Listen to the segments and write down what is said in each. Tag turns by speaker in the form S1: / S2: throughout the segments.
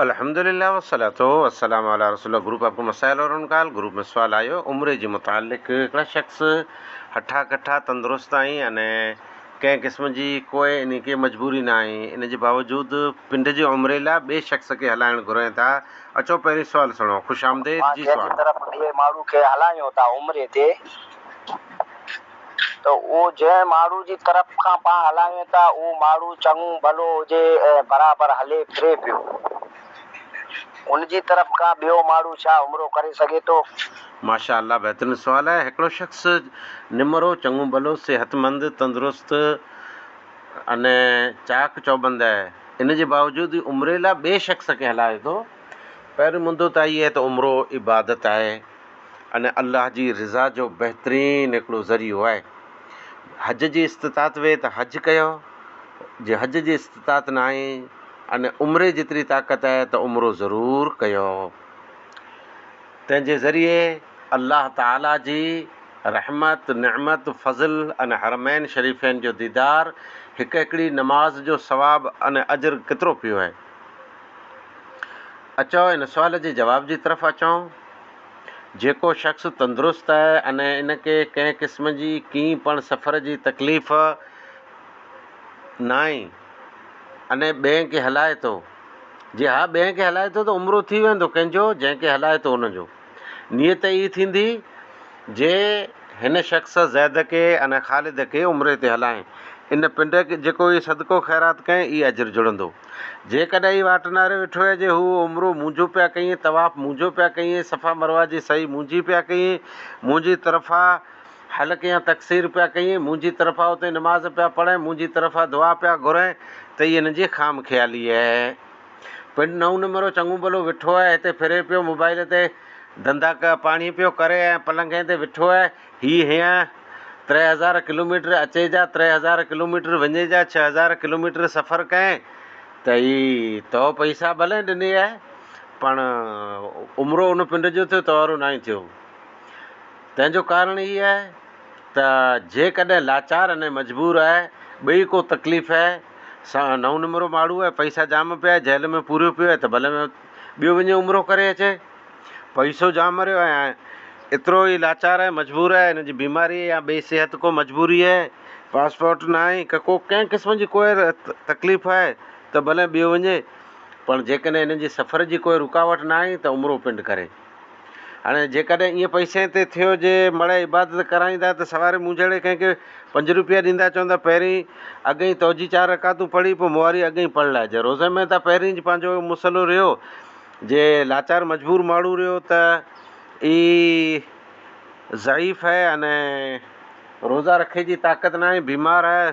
S1: الحمدللّٰه والصلوۃ والسّلام علی رسول اللّٰه group of مسائل اور ان کا حل گروپ ۾ سوال آيو عمري جي متعلق هڪڙا شخص هٺا ڪٺا تندرست آهين ان ڪنهن قسم جي ڪوئي ان کي مجبوري نه آهين ان جي باوجود پنڊ جي عمري لا ٻي شخص کي هلائڻ گهرين ٿا اچو پهرين سوال سڻو خوش آمديد جي سوال. جنهن جي طرف ٻئي ماڻهو کي
S2: هلائيون ٿا عمري تي. ته اهو جنهن ماڻهو جي طرف کان پاڻ هلائين ٿا، اهو ماڻهو چڱو ڀلو هجي ۽ برابر هلي ڦري پيو، ان جي طرف کان ٻيو ماڻهو ڇا عمرو ڪري سگهي ٿو؟ ماشاء الله
S1: بهترين سوال آهي هڪڙو شخص نمرو چڱو ڀلو صحت مند تندرست ان چاڪ چوبند آهي ان جي باوجود عمري لاء ٻئي شخص کي هلائي ٿو پهريون مدو ته اهي ته عمرو عبادت آهي ان الله جي رضا جو بهترين هڪڙو ذريعو آهي. حج جي استطاعت هئي ته حج ڪيو، جي حج جي استطاعت ناهي ان عمري جيتري طاقت آهي ته عمرو ضرور ڪيو. تنهن جي ذريعي الله تعاليٰ جي رحمت، نعمت، فضل ان حرمين شريفين جو ديدار، هڪ هڪڙي نماز جو ثواب ان اجر ڪيترو پيو آهي. اچو ان سوال جي جواب جي طرف اچون. جيڪو شخص تندرست آهي ۽ ان کي ڪنهن قسم جي ڪنهن پڻ سفر جي تڪليف ناهي ۽ ٻين کي هلائي ٿو، جي ها ٻين کي هلائي ٿو ته عمرو ٿي ويندو ڪنهن جو جنهن کي هلائي ٿو ان جو. نيت اھي ٿيندي جي ھن شخص زيد کي ۽ خالد کي عمري تي ھلائين. ان پنڊ جيڪو ھي صدقو خيرات ڪئين اھي اجر جڙندو. جيڪڏھن ھي واٽناري ويٺو ھي جي ھو عمرو مونجھو پيا ڪيئين، طواف مونجھو پيا ڪيئين، صفا مروه جي سعي مونجھي پيا ڪيئين، مونجھي طرفا حلق يا تقصير پيا ڪيئين، مونجھي طرفا اتي نماز پيا پڙھين، مونجھي طرفا دعا پيا گھرين ته اھي ھن جي خام خيالي اھي. پنڊ نئون نمرو چڱو ڀلو ويٺو آهي. هتي ڦري پيو موبائيل تي ڌنڌا پاڻي پيو ڪري ۽ پلنگين تي ويٺو آهي. هي هيئن تري هزار ڪلوميٽر اچي جا تري هزار ڪلوميٽر وڃي جا ڇهه هزار ڪلوميٽر سفر ڪئين ته هي تو پئسا ڀلئين ڏني آهي پڻ عمرو ان پنڊ جو ٿيو تئوارو ناهي ٿيو. تنهن جو ڪارڻ هي آهي. ته جيڪڏهن لاچار ۽ مجبور آهي، ٻئي ڪو تڪليف آهي، سان نئون نمرو ماڙهو آهي، پئسا جام پيا آهي، جهل ۾ پوريو پيو آهي ته ڀلي ۾ ٻيو وڃي عمرو ڪري اچي. پئسو جام مريو آهي ۽ ايترو هي لاچار آهي، مجبور آهي، هن جي بيماري يا ٻئي صحت ڪو مجبوري آهي، پاسپورٽ نه آهي ڪه ڪو ڪنهن قسم جي ڪوئي تڪليف آهي ته ڀلي ٻيو وڃي، پر جيڪڏهن هن جي سفر جي ڪوئي رڪاوٽ نه آهي ته عمرو پنڊ ڪري. هاڻي جيڪڏهن ائين پئسين تي ٿيو جي مڙهي عبادت ڪرائيندا ته سواري مونجهڙي ڪنهن کي پنج روپيا ڏيندا چوندا پهرين اڳهين توجي چار رڪعتون پڙهي پوء مواري اڳهين پڙهي لائجي روزي ۾ ته پهرين پنهنجو مسئلو رهيو جي لاچار مجبور ماڻهو رهيو ته اي ضعيف هي هن روزا رکي جي طاقت ناهي بيمار هي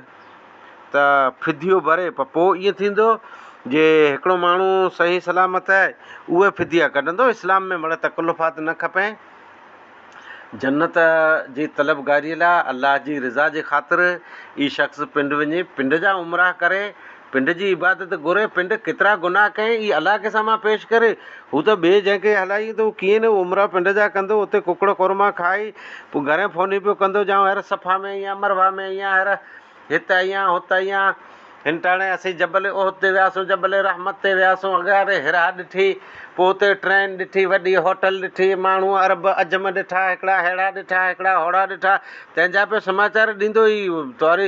S1: ته فديو ڀري پر پوء ائين ٿيندو جي هڪڙو ماڻهو صحيح سلامت آهي اهوئي فديا ڪڍندو اسلام ۾ مڙئي تڪلفات نه کپين جنت جي طلبگاري لاء الله جي رضا جي خاطر ئي شخص پنڊ وڃي پنڊ جا عمرا ڪري پنڊ جي عبادت گهري پنڊ ڪيترا گناهه ڪئين اهي الله کي سامهان پيش ڪري هو ته ٻئي جنهن کي هلائي ايندو هو ڪيئن نه امراء پنڊ جا ڪندو اتي ڪڪڙ قورما کائي پوء گهرين ڦوني پيو ڪندو جائون هير صفا ۾ ايئن امروها ۾ ايئن هير هت ايئن هت ايئن هنٽاڻي اسين جبل احد تي وياسون جبل رحمت تي وياسون اگهياري هيرا ڏٺي پوء اتي ٽرين ڏٺي وڏي هوٽل ڏٺي ماڻهو عرب عجم ڏٺا هڪڙا ههڙا ڏٺا هڪڙا هوڙا ڏٺا تنهن جا پيو سماچار ڏيندو هي توري